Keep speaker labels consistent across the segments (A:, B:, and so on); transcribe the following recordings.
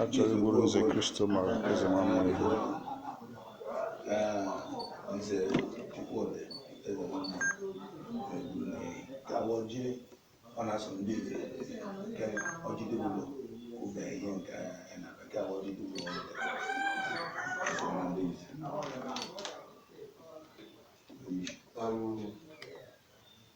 A: Achọrọ igburu Nze Christopher Eze Nwanma ihu. Nze Chukwudi Eze Nwanma ga-agọ ọjị ọ na-asọ ndị Ife nke ọjị dịgburo ube ihe nke ya na nke agba ọjị dịgburo ọ wetara asọ na ndị Ife.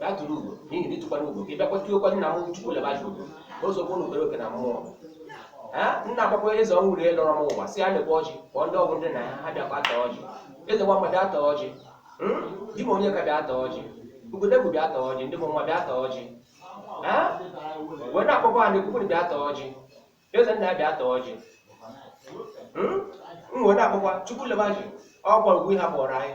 A: na tụrụ ugo n'ihi na ịtụkwara ugo ka ị bịakwa tiokwa nna m Chukwulebaji ugo ka o sokwa unu bere oke na mmụọ ha nna agbakwa eze ọnwụ rie lọrọ m ụwa si ya lekwa ọjị kpọọ ndị ọgwụ ndị na ha ha bịakwa ata ọjị Eze Nwanma bịa ata ọjị Hmm? di m onye ka bịa ata ọjị ugodegwu bịa ata ọjị ndị m nwa bịa ata ọjị ha wee na-akpọkwa ha na-ekwukwuru bịa ata ọjị eze nna ya bịa ata ọjị Hmm? m wee na-akpọkwa Chukwulebaji ọ gwara ugwu ihe ha kpọrọ anyị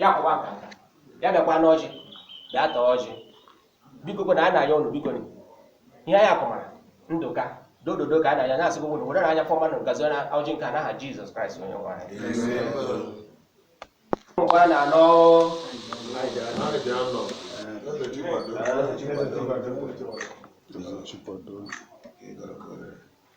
A: ya kụwa aka aka ya bịakwa n'ọjị bịa taa ọjị biko kwe na anyị na-ayọ ụnụ biko ni. ihe anyị akụmara ndụ ka dododo ka a na-anya na-asị gị ụnụ were nye anyị ife ọma na ngọzi na ọjị nke a n'aha Jizọs Kraịst onye nwe anyị ngwa na anọ Chikwado.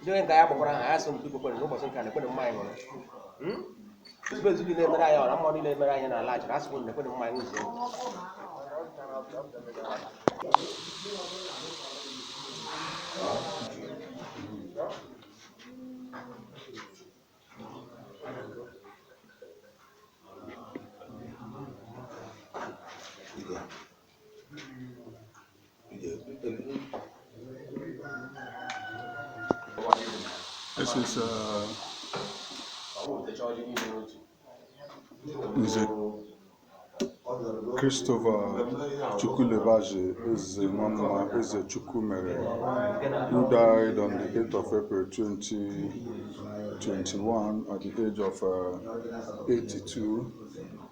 A: ndị onye nke ya kpọkwara ha ya so mpi kwekwere n'ụbọchị nke a nekwenụ mmanya nwere Ezumezu niile mere anyị ọra mmụọ niile mere anyị n'ala achịrị asị kwuru nekwenụ mmanya zuo This is uh, Nze Christopher Chukwulebaji Eze Nwanma Eze Chukwumere who died on the 8th of April 2021 at the age of uh, 82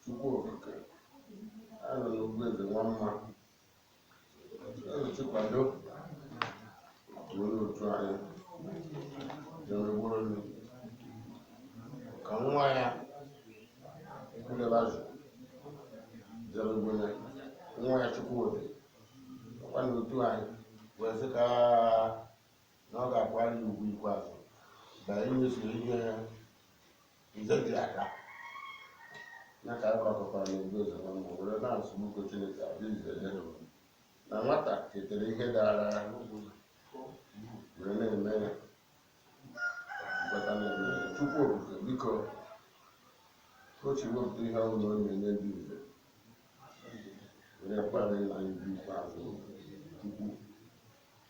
A: Chukwu Okike anọ n'Ugwu Eze Nwanma ezi kwado onye otu anyị na-emegburolu ka nwa ya kwudebazụ jebegwene nwa ya Chukwudi ọkwa na otu anyị wee sị ka na ọ ga-akwanyere ugwu ikpeazụ na imezu ihe nze dị aka ya ka anyị gbakọtara n'obi ụzọ na mma were na-asị biko Chineke abịa ize dere m na nwata ketere ihe dara ya were na-eme ya nkweta na-eme ya Chukwu okike biko ochi wepụta ihe ọhụrụ ọ na-enye ndị nze were kpara ịla anyị ugwu ikpeazụ Chukwu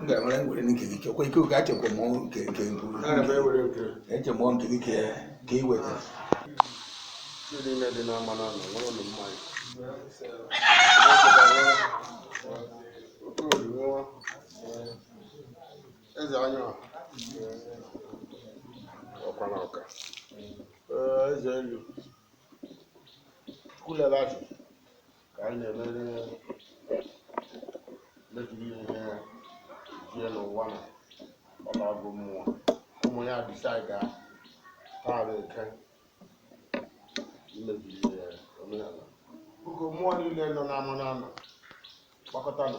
A: m ga-enwere ngwere nke gị chekwa ike oge achekwa m nke nke nkwu eche m nke gị ka ka ị weta Thank you. Eze anyị ọ. Ọkwana ọka. Ee, eze elu. Kulere afọ ka anyị na-emere meziri ihe jie n'ụwa na ọ lago mmụọ. Ụmụ ya decidego taa na eke imeziri ihe omenala. Biko mmụọ niile nọ n'ama n'ama gbakọtanụ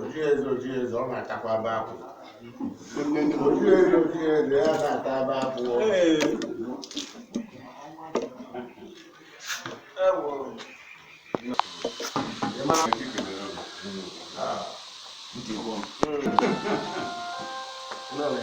A: oji eze oji eze ọ na-atakwa aba akwụ oji eze oji eze ya na-ata aba akwụ Lele.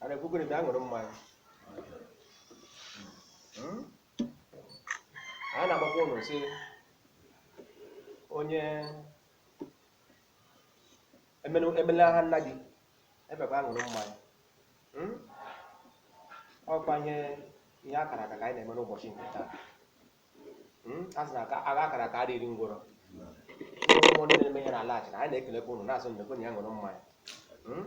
A: a na-ekugo ụnụ bịa ṅụrụ mmanya Hmm? anyị na-agwakwa ụnụ sị onye emenu- emela ha nna gị ebekwa ṅụrụ mmanya Hmm? ọkwa ihe ihe akara aka ka anyị na-eme n'ụbọchị nke taa Hmm? a sị na aka- agha akara aka adịghị eri ngwụrọ ụmụ ndị na-eme ihe n'ala Achịna anyị na-ekelekwa ụnụ na-asị nnekwe na ya ṅụrụ mmanya Hmm?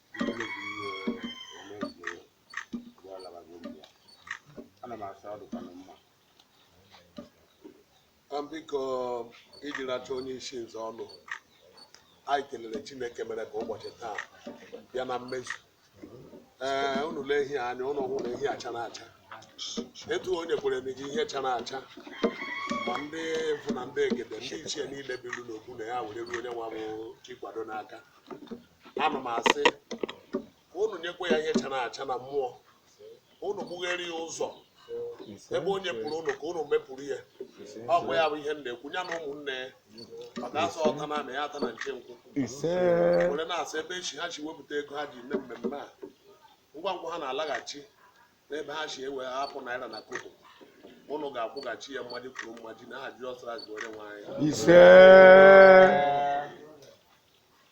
A: biko iji racha onye isi nze ọnụ anyị kelere chineke mere ka ụbọchị taa bịa na mmezu ee eh, unu lee ihe anyị nwere ihe chara acha etu onye kwere na-eji ihe chara acha ma ndị mbụ na ndị egede ndị ichie niile bilu n'okwu na ya were ruo onye nwa bụ Chikwado n'aka ana m asị ka unu nyekwa ya ihe chara acha na mmụọ ka unu gbughere ya ụzọ ebe onye pụrụ unu ka unu mepụrụ ya ọ kwa ya bụ ihe m na-ekwu ya na ụmụnne ya ọ ga-asa ọta na ya ata na nke nkwụ ise were na-asị ebe echi ha si wepụta ego ha ji mee mmemme a ngwa ngwa ha na-alaghachi n'ebe ha si ewe hapụ naira na kobo unu ga-akwụghachi ya mmaji kwuru mmaji na aha Jizọs Kraịst bụ onye nwe anyị ise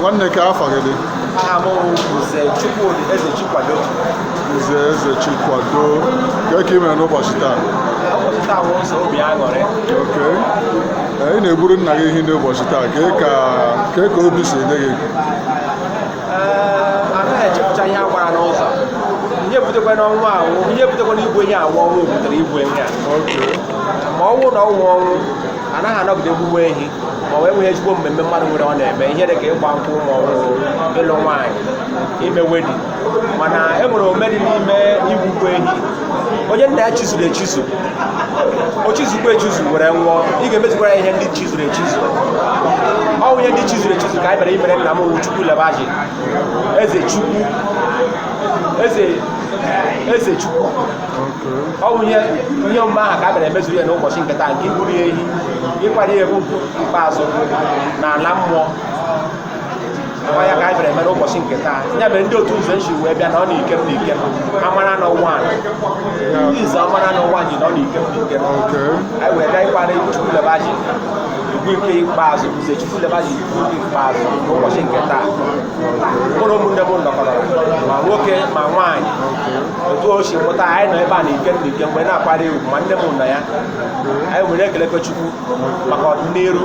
A: nwanne kee afa gị dị aha m bụ Nze Chukwudi Eze Chikwado nze eze chikwado kee ka ị mere n'ụbọchị taa ụbọchị taa bụ ụzọ obi aṅụrị okay ị na-egburu nna gị ehi n'ụbọchị taa kee ka obi si dị gị anaghị echepụcha ihe a gbara n'ụzọ ihe butekwanụ ọnwụ a wụ ihe butekwanụ igbu ehi a wụ ọnwụ butere igbu ehi a ma ọ wụ na ọ wụghị ọnwụ anaghị anọgide gbuwe ehi ma ọ nweghị ezigbo mmemme mmadụ nwere ọ na-eme ihe dị ka ịgba nkwụ ma ọ bụ ịlụ nwaanyị ime wedding mana e nwere omume dị n'ime igbukwa ehi onye nna ya chizuru echizu o chizukwa echizu were nwụọ ị ga-emezukwa ya ihe ndị chizuru echizu ọ bụ ihe ndị chizuru echizu ka anyị bịara imere nna m wụ chukwu lebaji eze chukwu eze eze chukwu ọ bụ ihe ihe omume ahụ ka a bịara emezuru ya n'ụbọchị nke taa nke igburu ya ehi ịkwanye ya ugwu ikpeazụ n'ala mmụọ ya ka anyị bịara eme n'ụbọchị nke taa ya mere ndị otu ụzọ nshi wee bịa na ọ na-ike m n'ike m amara na ụwa ndị izu amara na ụwa ji na ọ na-ike m n'ike m anyị wee gaa ịkwara chukwu lebaji ugwu nke ikpeazụ nze chukwu lebaji ugwu nke ikpeazụ n'ụbọchị nke taa mụ na ụmụnne m nọkọrọ ma nwoke ma nwaanyị otu o si pụta anyị nọ ebe a na ike m n'ike mgbe na-akwara egwu ma nne m nọ ya anyị were ekelekwa chukwu maka ọdịnihu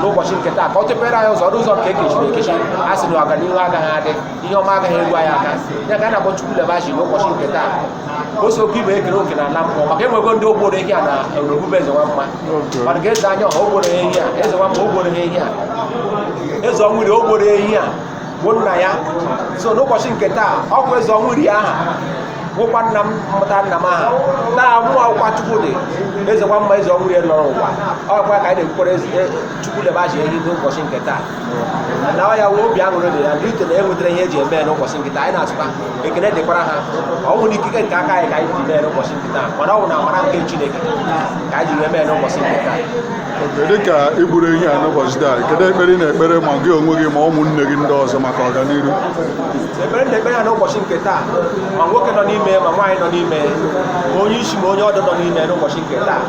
A: n'ụbọchị nke taa ka ọ tọpere anyị ụzọ ọrụ ụzọ nke ekechiri ekechi a sị na ọganihu agaghị adị ihe ọma agaghị eru anyị aka ya ka a na-akpọ Chukwu Lebashi n'ụbọchị nke taa o sokwa ibe ekere oke na ala mmụọ maka enwego ndị o gburu ehi a na orobube eze nwa mma mana ka eze anya ọha o gburu ehi a eze nwa mma o gburu ehi a eze ọnwụ iri o gburu ehi a bụ nna ya so n'ụbọchị nke taa ọ bụ eze ọnwụ iri ọ ha nwekwa nna m mụta nna m aha taa mụ wụkwa Chukwudi eze nwa mma eze ọnwụ iri nọrọ ụwa ọ kwa ka anyị na-egbukwara eze- e- chukwu lebaji ehi n'ụbọchị nke taa na ọ ya wụ obi aṅụrị dị ya ndị ito na enwetara ihe eji eme ya n'ụbọchị nke taa anyị na-asịkwa ekele dịkwara ha ọ bụghị na ikike nke aka anyị ka anyị ji mee ya n'ụbọchị nke taa mana ọ bụ na amara nke chineke ka anyị ji wee mee ya n'ụbọchị nke taa dị ka i gburu ihe a n'ụbọchị taa kedu ekpere ị na-ekpere ma gị onwe gị ma ụmụnne gị ndị ọzọ maka ọganihu ekpere ndị ekpere ya n'ụbọchị nke taa ma nwoke nọ n'ime ma nwaanyị nọ n'ime ma onye isi ma onye ọdụ nọ n'ime n'ụbọchị nke taa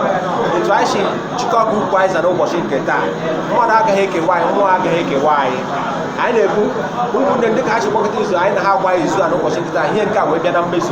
A: otu anyị si jikọ aka ukwu anyị za n'ụbọchị nke taa mmadụ agaghị ekewa anyị mmụọ agaghị ekewa anyị anyị na-ekwu ụmụnne ndị ka ha si kpọkọta izu anyị na ha agba izu a n'ụbọchị nke taa ihe nke a wee bịa na mmezu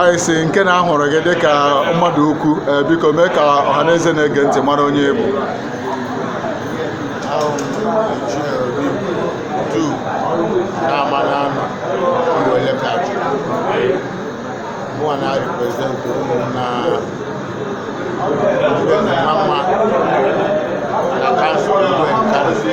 A: anyị si nke na ahụrụ gị dịka mmadụ ukwu ee, biko mee ka ọha na eze na-ege ntị mara onye ị bụ ahụ Chinelo Obi du na-ama n'ama ụmụ elekachị mụwa na-represent ụmụnna ndị na mama na council igwe nkarịsị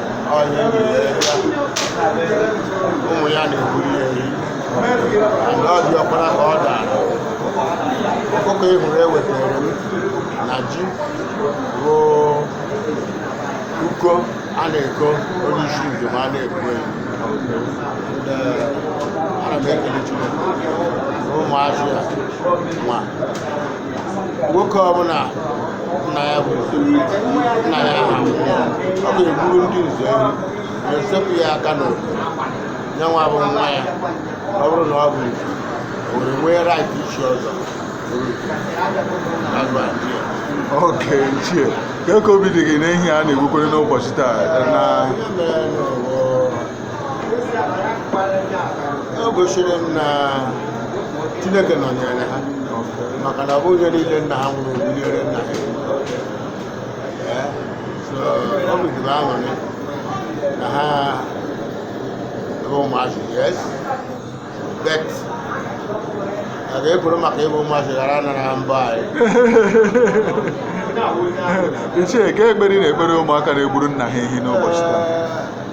A: ụmụ ya na-egburu ya ehi na ọ dị ọkpara ka ọ dara ọkụkọ ị hụrụ ewetara m na ji bụ uko a na-eko onye isi njem a na-egbu ehi ana m ekele Chineke na ụmụazị ya nwa nwoke ọbụla nna ya bụ nna ya ha nwụọ, ọ ga-egburu ndị nze ehi wee sepụ ya aka n'obi ya nwa bụ nwa ya ọ bụrụ na ọ bụ nze o were nwee right ichi ọzọ That's my idea. okay ichie kee ka obi dị gị na ehi a na-egbukwere n'ụbọchị taa na Ihe mere na ọ bụ o gosiri m na chineke nọnyere ha maka na ọ bụghị ihe niile nna ha nwụrụ gbunyere nna ha ehi, so obi dị m aṅụrị na ha bụ ụmụazị yes but a ga-ekwuru maka ịbụ ụmụazị ghara anara ha mbọ anyị ichie kee ekpere ị na-ekpere ụmụaka na-egburu nna ha ehi n'ụbọchị taa Ee,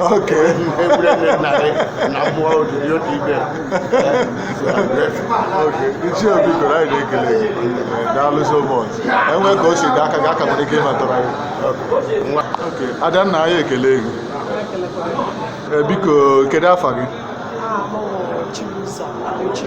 A: Okay. ichie obi goro anyị na-ekele gị daalụ so much enwe ka o si dị aka gị aka nwere ike ịmatara gị Okay. adanna anyị ekelee gị Eh, biko kedu afa gị Chibuzo Abuchi.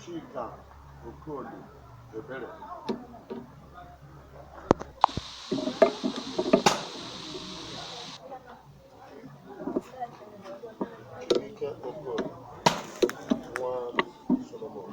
A: Chika Okoli Ebere Chike Okoli nwa Solomon